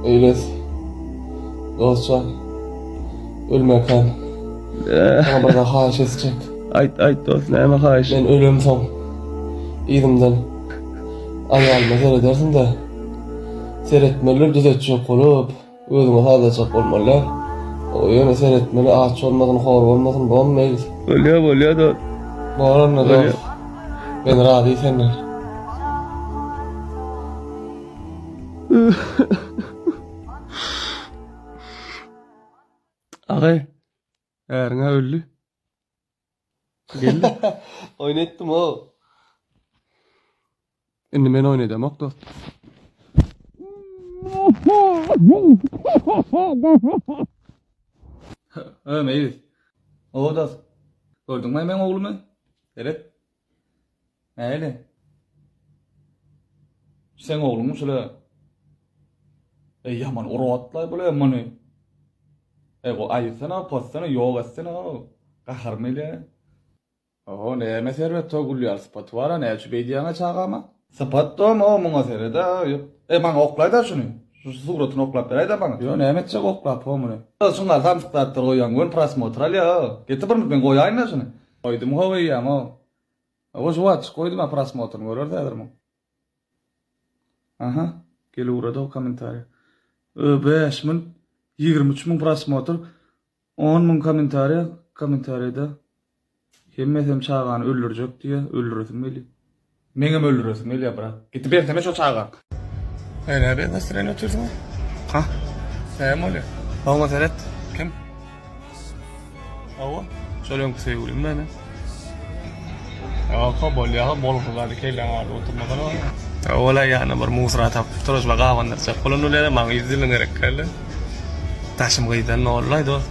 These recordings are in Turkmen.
Eýles. Dostjan. Ölmäkäm. Saňa bir zat haýyş etjek. Aýt, aýt dost, näme haýyş? Men ölemsoň, yzymdan aýalyma seredersiň-de, seretmeli, düzetjek bolup, özüňe salajak bolmaly. O ýöne seretmeli, aç bolmasyn, hor bolmasyn, bolarmy Eýles? Bolýar, bolýar dost. Bor onda dost. Men razy senden. Agay, ärin ha öldi. Geldi. Oyun etdim o. Indi men oyun edem ok dost. Ömeyiz. O dost. Gördün mü men oğlumu? Seret. Maýli. Seň ogluňmy şule? Eý ýaman urup atlaý bule muny. Eý go aýytsana, possana, ýok etsene o. Gaharymy ile. Oho, näme Serwet o gülýär, sypaty bar-a, näçe beýdýäň-ä çagama? Sypat dom o muňa seret-ä. Eý maňa oklaý-da şuny. Şu suratyny oklap beräý-dä maňa. Ýo näme etjek oklap o muny. Çyngar samsyk zatlar goýýaň göni prosmotr alýa-a. Getir bir minut men goýaýyn-da şuny. Goýdum gowy eýýämä. Owo juwaç goýdum a prosmotryny göreriz häzir muň. Aha gel ugrady o kommentariýa. Ö bäş müň ýigrimi üç müň prosmotr on müň kommentariýa kommentariýada hemmesem çagany öldürjek diýýä öldüresim gelýä. Meňem öldüresim gelýär brat. Gidibersene şo çaga. Sen näme bez nastroýenli otyrsyň? Ha? Näme bolýar? Oňa seret. Kim? Awa, şol öňki söýgülim meni. Ýa-ha bolýa-ha bolsa zady kelläň agyryp oturmasana. Ola ýana bir musora tapyp turuzla gabandyrjak bolan ulyada maňa ýüz ýylyň gerek däldi. Daşym gyýdan nollaý dost.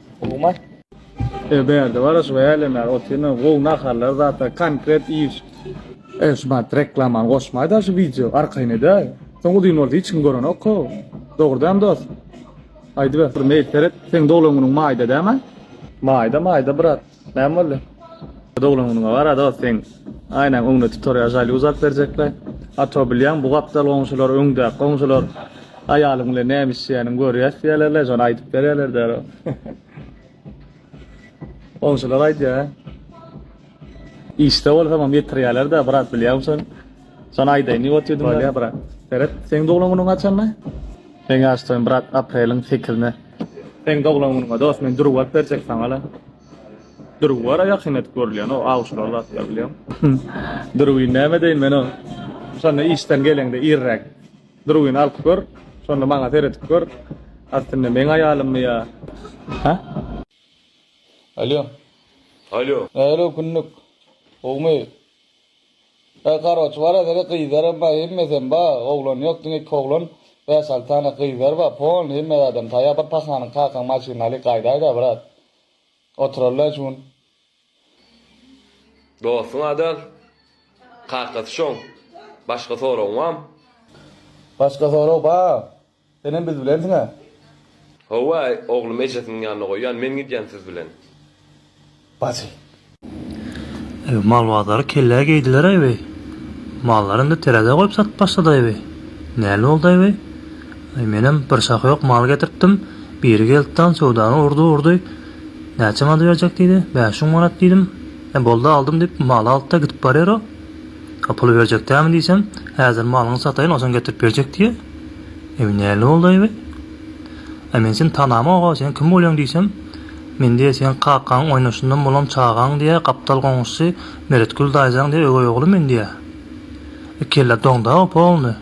Gowumy? E bärde bar şu älemär otyrna gowy naharlar zatlar konkret iş. E şu bat reklamany goşmaýda şu wideo arkaýyn edäý. Soň uzyn bolsa hiç kim görenok-a. Dogrudanam dost. Aýdyber bir meýil seret. Seň doglan günüň maýda dämi? Maýda maýda brat. Näme boldy? Doglan günüňe bar ada sen aýnaň öňüne tutorial jaýly uzap berjekler. Ato bilýän bu gapdal goňşular öňdäki goňşular aýalyň bilen näme işleýäniň görýäs diýerlerler şony aýdyp berýärler däro. Goňşular aýdýar. Işde bolsam hem ýetirýärler-de brat bilýän şony. Sana aýdaýyn, ne bolup ýördiňiz? Bolýar, brat. Seret, seň doglan günüň haçanda? Meň ýaş toýum, brat, apreliň sekizine. Seň doglan günüňe, dost, men dürbi alyp berjek saňa-la. Dürbi bar-a ýakyn edip görülýän, o awçylar zatlar, bilýäňmi? Dürbini näme edeýin men oň? Şonda işden geleňde irräk dürbini alyp gör, şonda maňa seredip gör, aslynda meň aýalymmy ýa, hä? Alýo. Alýo. Nähili günlük? Gowumy? Bar karoç bar edere gyzaram bar hemmesem bar oglan yok diňe iki oglan bäş alty sany gyzlar bar polny hemme zadam taýar bir pahanyň kakaň maşynyny alyk gaýdaýda brat oturarlar şu gün. Dostuň adal kakasy şoň başga soragyň barmy. Başga sorag bar Senem biz bilensiň-ä? Hawa, oglumy ejesiniň ýanyna goýýan, men gidýän siz bilen. Bajy. Eý, malbazary kellä geýdiler-aý weý. Mallary indi terezä goýup satyp başlady-aý weý. Näl boldy-aý weý? Eý, menem bir şahy ýok mal getiripdim, biri geldi dan söwdany urdy-urdy. Näçe mady berjek diýdi. Bäş müň manat diýdim. Ä, boldy aldym diýip, maly aldy-da gidip barýar-a. A puly berjek dämi diýsem, häzir malyňy sataýyn, onsoň getirip berjek diýýä. Eý, näle boldy, eý? A men seni tanamok-a, sen kim bolýaň diýsem, Men diýe seň kakaň oýnaşyndan bolan çagaň diýe, gapdal goňşusy Meretgül daýzaň diýe öweý ogly men diýýä. E kelle doňda-a polny.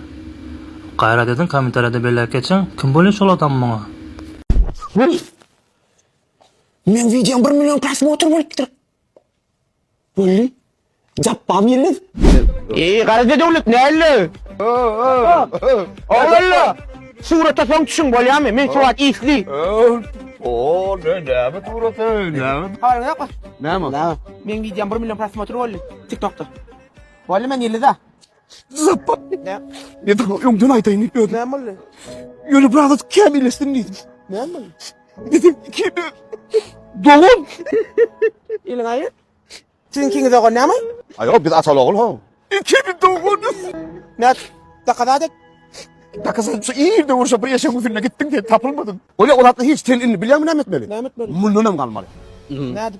Gaýrat ediň, kommentariýada belläp geçiň, kim bolýa şol adam muňa? Wii! Meň wideom bir million prosmotr bolupdyr. Boldy. Japbam ýelmez. Eý, Garaja döwlet, nälle? Oglanlar, surata soň düşüň, bolýamy? Men surat isli. Oo, ne näme suraty, näme? Haýyr, ýok. Näme? Meň wideom bir million prosmotr boldy TikTokda. Boldy, men ýyldyz-a. Zappa. Ne? Ne dur öňden aýdaýyn diýip öýdüm. Näme boldy? Ýöne biraz az kämilleşsin diýdim. Näme boldy? Dedim iki dogan. Iliň aýy. Siziň ikiňiz ogan näme? Aýo biz ataly ogul ho. İki bir doganız. Ne? Dakazat et. Dakazat şu ýerde urşa bir eşek üzünde gitdiň diýip tapylmadym. Öyle olatda hiç sen indi bilýärmi näme etmeli? Näme etmeli? Mundan hem galmaly. Nädip?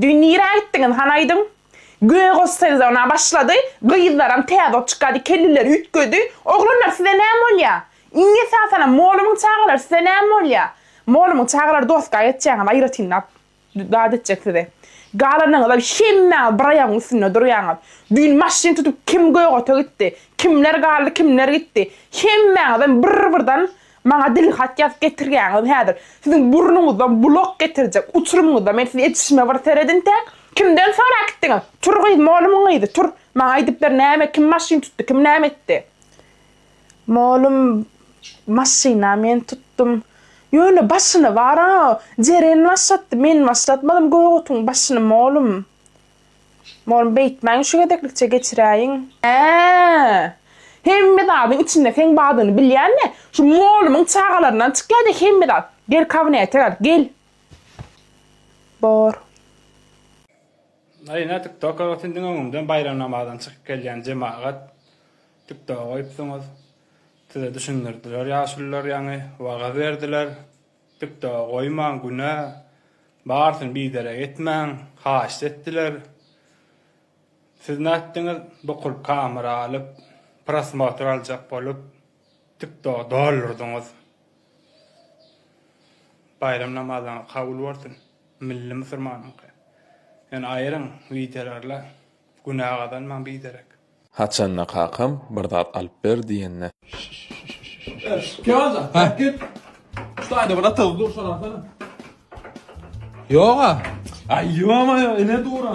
Düýn nirä gitdiňiz, han aýdyň? Gögoş sezona başlady, gyzlaram täze ot çykady, kelleleri üýtgedi. Oglanlar, size näme bolýa? Iň esasanam, molumyň çagalary size näme bolýa? Molumyň çagalary doska geçýäňiz, aýratyn zat zat etjek size. Galanyňyzam hemmäňiz bir aýagyň üstünde durýaňyz. Düýn maşyn tutup kim Gögota gitdi? Kimler galdy, kimler gitdi? Hemmäňizem bir-birden Maňa dil hat ýazyp getirýäňiz häzir. Siziň burnuňyzdan bulak getirjek uçurymyňyzda men siz etişime bir seredintäk. Kimden sorap gitdiňiz? Tur gyz, molumyň gyzy, tur. Maňa aýdyp ber, näme, kim maşyn tutdy, kim näme etdi? Molum, Maşyn-a men tutdum. Ýöne başyny bar-a, Jeren başlatdy, men başlatmadym gögotyň başyny, molum. Molum beýtmäň şu gezeklikçe geçiräýiň. Ää! Hemme zadyň içinde seň badyňy bilýän-le, şu molumyň çagalaryndan çykýa-da hemme zat. Gel kabinete gel, gel. Bor. Aý ine tiktokar ot indiň öňüňden baýram namazyna çykyp gelýän jemagat tiktoga goýupsyňyz. Size düşündirdiler ýaşulylar ýaňy wagyz berdiler. Dikde goýmaň günä, barysyny biderek etmäň, haýyşt etdiler. Siz nätdiňiz, bukul kamera alyp, prosmotr aljak bolup, tiktogy doldurdyňyz. Baýram namazyňyz kabul bolsun, milli musurmanyňky. Ýöne aýryň wideolarla. Günä gazanmaň biderek. Haçanda kakam bir zat alyp ber diýende. Kemaljan, Hä. Git. Şu taýda bir atygyz dur, şony alsana. Ýog-a. Aý, ýo-moýo, ine dur-a.